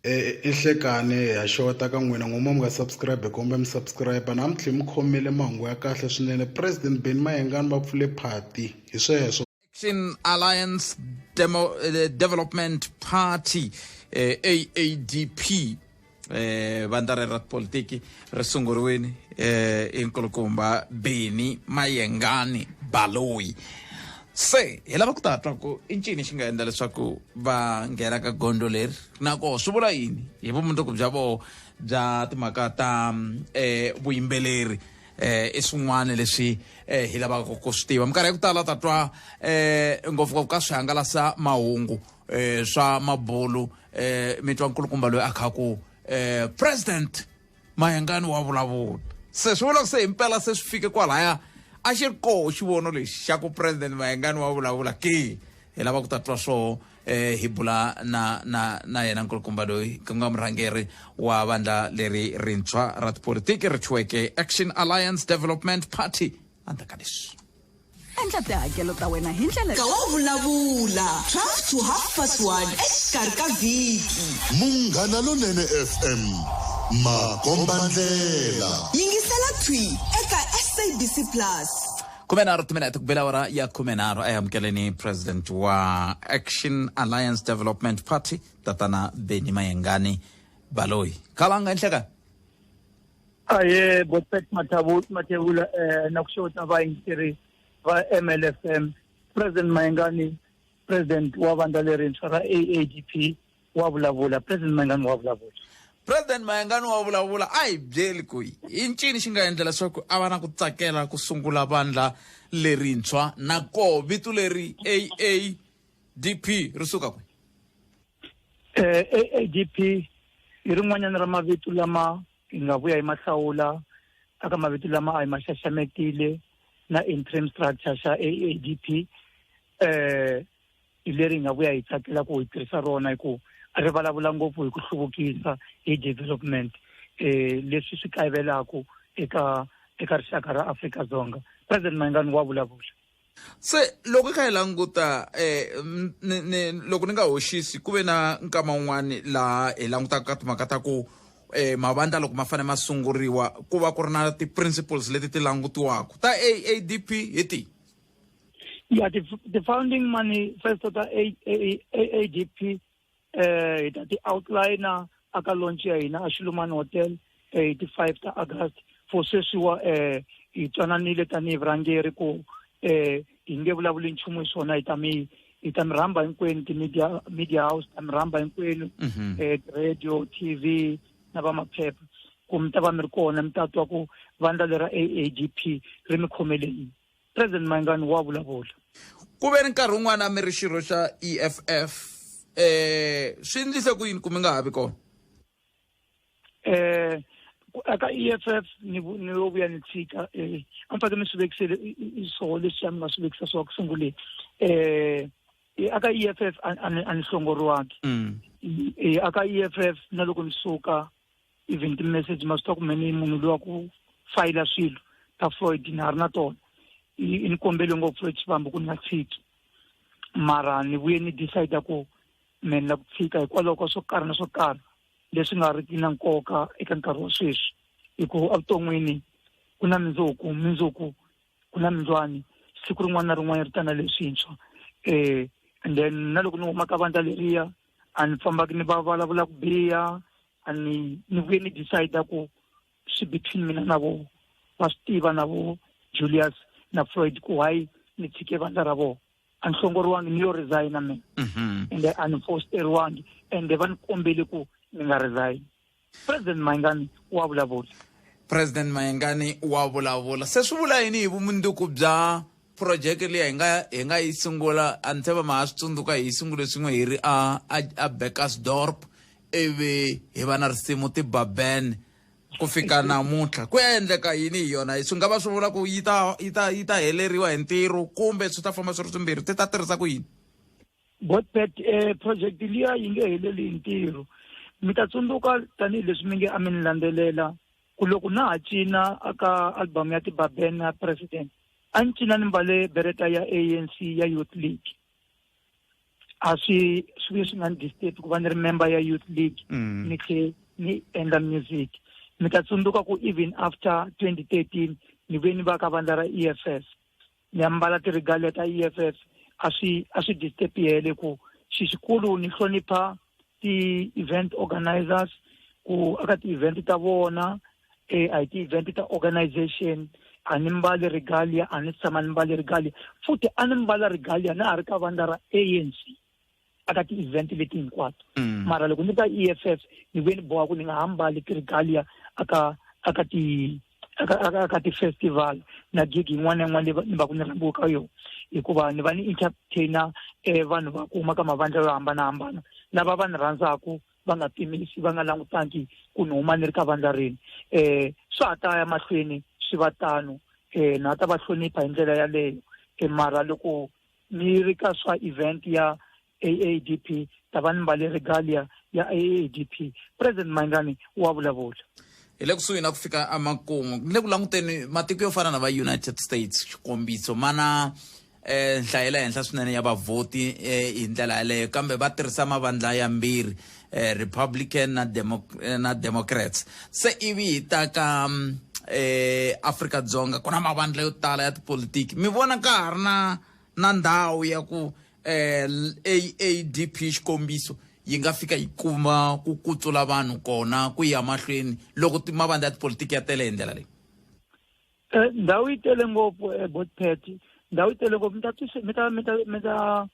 i hlekani ha xota ka n'wina n'wuma mi nga subscribe kombe mi subscribe na mi tlhela mi khomile mahungu ya kahle swinene president beni mayengani va pfule phati hi sweswo action alliance Demo, eh, development party eh, aadp eh, vandla rero ra tipolitiki ri sunguriwini eh, i nkulukumba beni mayengani baloyi se hi lava ku ta twa ku i ncini xi nga endla leswaku va nghena ka gondzo leri nako swi vula yini hi vumundzuku bya voo bya timhaka ta um vuyimbeleri eh i swin'wana leswi eh hi lavaka ku swi tiva minkarhi ya ku tala ta twa eh ngopfungopfu ka swihangalasa mahungu eh swa mabulu eh mi twa nkulukumba loyi a khaku eh president mayengani wa vulavula se swi vula ku se himpela se swi fike kwalaya a xi ri koho xivono lexi xa ku president mayengani wa vulavula ke hi lava ku ta twa swoho um eh, hi bula na na na yena nkulukumba loyi ku nga murhangeri wa vandla leri rintshwa ra tipolitiki ri thyiweke action alliance development party andzaka leswi endla tihakelo ta wena hi ndlela ka wa vulavula 12 to half past 1 exikarhi ka vhiki munghana lonene fm makombandlela yingisela thwi eka sabc plus khume nharhu timinete ku bela awara ya khume nharhu a yi amukeleni president wa action alliance development party tatana beni mayengani baloyi khala nga ehlekani ahee boset matevula um eh, na ku xota vayingiseri va mlfm president mayengani president wa vandla lerintshwa ra aadp wa vulavula president mayengani wa vulavula president mayengani wa vulavula a hi byeli ku yi i ncini xi nga endla leswaku a va na ku tsakela ku sungula vandla lerintshwa nakoho vito leri aadp ri suka kwi AADP hi rin'wanyana ra mavito lama hi nga vuya hi mahlawula aka mavito lama a hi ma xaxametile na interim structure xa AADP eh hi leri hi nga vuya hi tsakela ku hi tirhisa rona hi ku ri vulavula ngopfu hi ku hluvukisa hi development eh leswi swi kayivelaku eka eka rixaka ra Afrika-Dzonga president Mayengani wa vulavula Se loko hi kha hi languta um loko ni nga hoxisi ku ve na nkama wun'wani laha hi langutaka ka timhaka ta ku um mavandla loko ma fanele ma sunguriwa ku va ku ri na ti-principles leti ti langutiwaka ta aadp hi tihi ya ti-founding money first ta aadp eh hi ta ti outliner aka launch ya hina a Xilumani Hotel eh, hi ti 5 ta August for sweswiwa eh hi twananile tanihi vurhangeri ku eh hi nge vulavuli nchumu hi swona hi ta mi hi ta mi rhamba hinkwenu ti-media media house ta mi rhamba hinkwenu Mhm. eh radio tv na va maphepha ku mi ta va mi ri kona mi ta twa ku vandla lera aadp ri mi khomeleni president mangani wa vulavula ku ve ni nkarhi wun'wana mi ri xirho xa eff eh swi endlise ku yini ku mi nga ha vi kona eh aka EFF ni ni lo vuya ni tshika eh a ni fanele ni swi vekisele swo leswi a mi nga swi vekisa swo ku sungule eh aka EFF a ni hlongoriwangi mm. eh aka EFF na loko ni suka even ti-message ma swi ta kumene i munhu loyi wa ku fayila swilo ta freud ni ha ri na tona ni kombele ngopfu exivambo ku ni nga tshiki mara ni vuye ni decide ku me ni la ku tshika hikwalaho ka swo karhi na swo karhi leswi nga ri ki na nkoka eka nkarhi wa sweswi hikuva evuton'wini ku na mindzuku mindzuku ku na mindzwani siku rin'wana na rin'wana ri ta na leswintshwa um and then na loko ni huma ka vandla leriya a ni fambaki ni va vulavula ku biha a ni ni vuye ni decide ku swi between mina na vo va swi tiva na vo julius na floyd ku why ni tshike vandla ra vona a ni hlongoriwangi ni yo resigna mina mhm. ende a ni fosteriwangi ende va ni kombele ku ni nga resign president mayingani wa vulavula president mayengani wa vulavula se swi vula yini hi vumundzuku bya phurojeke leyi hi nga hi nga yi sungula a ni tshemba ma ha swi tsundzuka hi sungule swin'we hi ri a a, a Beckersdorp ivi hi va na risimu tibaben ku fika namuntlha ku ya endleka yini hi yona swi nga va swi vula ku yi ta yi ta yi ta heleriwa hi ntirho kumbe swi ta famba swi ri swimbirhi ti ta tirhisa ku yini botbet um eh, project liya yi nge heleli hi ntirho mi ta tsundzuka tanihileswi mi nge a mi ni landzelela ku loko na ha cina aka album ya tibaben ya president a ni cina ni mbale bereta ya anc ya youth league a swi swi vuye swi nga ni disturb ku va ni ri member ya youth league mm. ni tlhe ni endla music mi ta tsundzuka ku even after 2013 ni ve ni va ka vandla ra e f f ni ya mbala tirigalia ta e f f a swi a swi disturb yele ku xixikulu ni hlonipha ti-event organizers ku aka ti-event ta vona eh, a hi ti-event ta organization a ni mbali regalia a ni tshama ni mbali regalia futhi a ni mbala regalia na ha ri ka vandla ra anc aka ti-event leti hinkwato mm. mara loko ni ka e f f ni vuye ni boha ku ni nga ha mbali ti-regalia aka aka ti aka aka aka ti-festival na gig yin'wana na yin'wana leyi ni va ku ni rhambiwe ka yona hikuva ni va ni entertainer um vanhu va ku huma ka mavandla yo hambanahambana lava va ni rhandzaka va nga pimisi va nga langutangi ku ni huma ni ri ka vandla rini um swa ha ta ya mahlweni swi va tano um na ta va hlonipha hi ndlela yaleyo um mara loko ni ri ka swa event ya AADP tavani mbali regalia ya AADP President Maingani wa vulavula hi le kusuhi na ku fika emakumu ni le ku languteni matiko yo fana na va united states xikombiso mana eh nhlayo ya le henhla swinene ya vavhoti eh, hi ndlela yaleyo kambe va tirhisa mavandla yambirhi eh, republican na, demo, eh, na democrats se ivi hi ta ka mm, eh, afrika dzonga ku na mavandla yo tala ya tipolitiki mi vona ka ha ri na na ndhawu ya ku eh, AADP xikombiso yi nga fika yi kuma ku kutsula vanhu kona ku ya mahlweni loko mavandla ya tipolitiki ya tele hi ndlela leyi eh, ndhawu yi tele ngopfu ebotpet eh, ndhawu yi tele ngopfu mi ta mi ta mi ta mi ta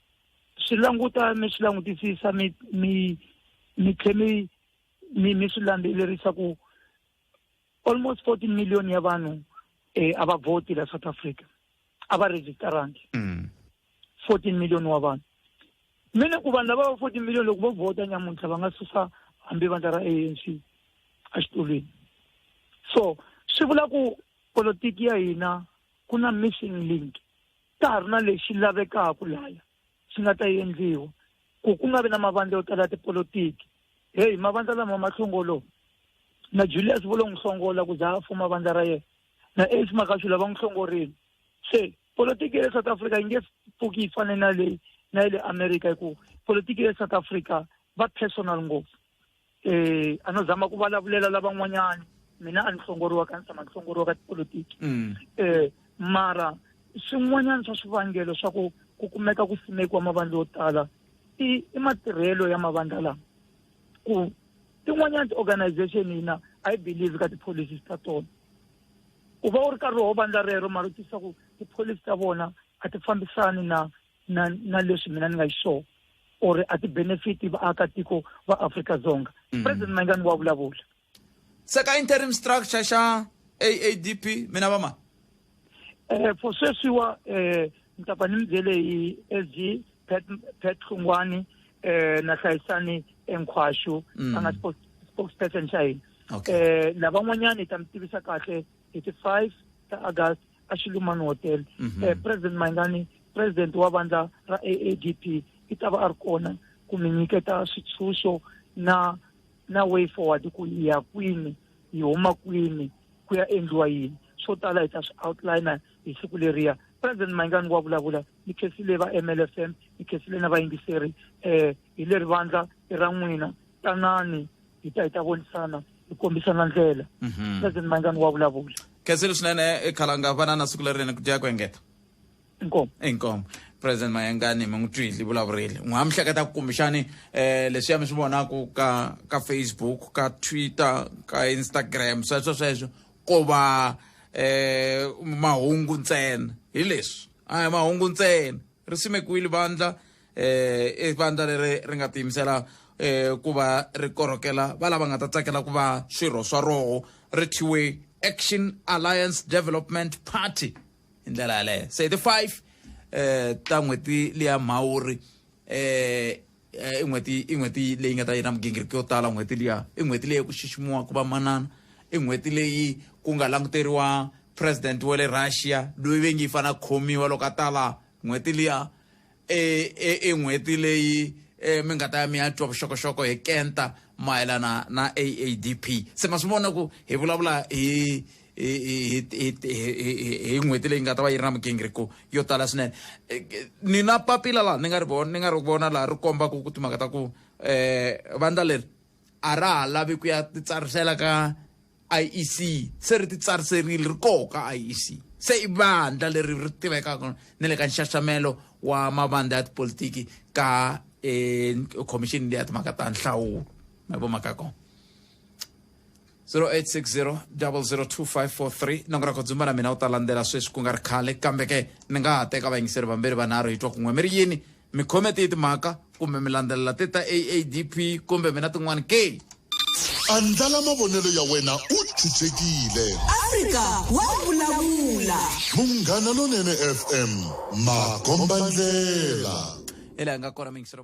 swi languta mi swi langutisisa mi mi mi tlhe mi mi mi swi landzelerisa ku almost 14 million ya vanhu eh, a va vhoti la south africa a va registarangi mm. 14 million wa vanhu mi ni ku vanhu lava va 14 million loko vo vhota nyamuntlha va nga susa hambi vandla ra anc exitulwini so swi vula ku politiki ya hina ku na missing link ka ha ri na lexi lavekaka laya swi nga ta endliwa ku ku nga vi na mavandla yo tala ya tipolotiki heyi mavandla lama ma hlongolowa na julius vo lo n'wi hlongola ku za a fuma vandla ra yena na ace makashula va n'wi hlongorile se politiki ya le south africa yi nge pfuki yi fane na leyi na ya le america hikuva politiki ya le south africa va personal ngopfu eh a no zama ku vulavulela lavan'wanyana mina a ni hlongoriwa ka ni tshama ni hlongoriwa ka tipolotiki mm. eh mara swin'wanyana swa swivangelo swa ku ku kumeka ku simekiwa mavandla yo tala i i matirhelo ya mavandla lama ku tin'wanyana ti-organization hina i believe ka ti-policies ta tona u va u ri karhi wo vandla rero mara u tisa ku ti-policy ta vona a ti fambisani na na na leswi mina ni nga xiswona or a ti-benefit vaakatiko va afrika dzonga mm. president mayingani wa vulavula se ka interim structure xa aadp mina va mani um eh, for sweswiwa um eh, ni ta pfa ni mi byele hi s g pet hlungwani um eh, na hlayisani enkhwaxu mm. a nga spokesperson xa hina um lavan'wanyani hi ta mi tivisa kahle hi ti-five ta august a Shiluman Hotel mm -hmm. eh, President Maingani President wa vandla ra AADP i ta va a ri kona ku mi nyiketa switshunxo na na way forward ku yi ya kwini yi huma kwini ku ya endliwa yini swo tala hi ta swi outliner hi siku leriya president maingani wa vulavula ni khesile va mlfm ni khesile na vayingiseri um hi leri vandla i ra n'wina tanani hi ta hi ta vonisana hi kombisana ndlela mhm. president mangani wa vulavula khensile swinene e khalanga vana na siku lerinene ku dya ku engeta inkomo inkomo president mayengani mi n'wi twile vulavurile n'wi ha mi hleketa ku kumbexani um eh, leswiya mi swi vonaka ka ka facebook ka twitter ka instagram sweswo sweswo ko va um mahungu ntsena hi leswi a hi mahungu ntsena ri simekiwile vandla eh i vandla leri ri nga tiyimisela eh ku va ri korhokela va lava nga ta tsakela ku va swirho swa roho ri thyiwe action alliance development party hi ndlela yaleyo se hi ti five eh ta n'hweti liya mhawuri eh i n'hweti i n'hweti leyi nga ta yi na migingiriko yo tala n'hweti liya i n'hweti leyi ku xiximiwa ku va manana i n'hweti leyi ku nga languteriwa president wa le russia loyi ve ngi yi fanele a khomiwa loko a tala n'hweti liya e, e, e n'hweti leyi e, mi nga ta ya mi ya twa vuxokoxoko hi kenta mayelana na aadp se ma swi vona ku hi vulavula hi hi n'hweti leyi nga ta va yi ri na migingiriko yo tala swinene e, ni na papila laha ni nga ri vona ni nga ri vona laha ri kombaka ku timhaka ta ku um vandla leri a ra ha lavi ku ya titsarisela ka IEC se ri titsariserile ri koho ka IEC se i vandla leri ri tivekaka ni le ka nxaxamelo wa mavandla ya tipolitiki ka um khomixini leya timhaka ta nhlawulo ma vomaka kona 0860002543 na ku ra khodzumba na mina u ta landzela sweswi ku nga ri khale kambe ke ni nga ha teka vayingiseri vambirhi vanharhu hi twa kun'we mi ri yini mi khome tiyi timhaka kumbe mi landzelela ti ta aadp kumbe mina tin'wana ke andlala mavonelo ya wena u chuchekile afrika wa vulavula munghana lonene fm makombandlela hi laha nga kona mingisero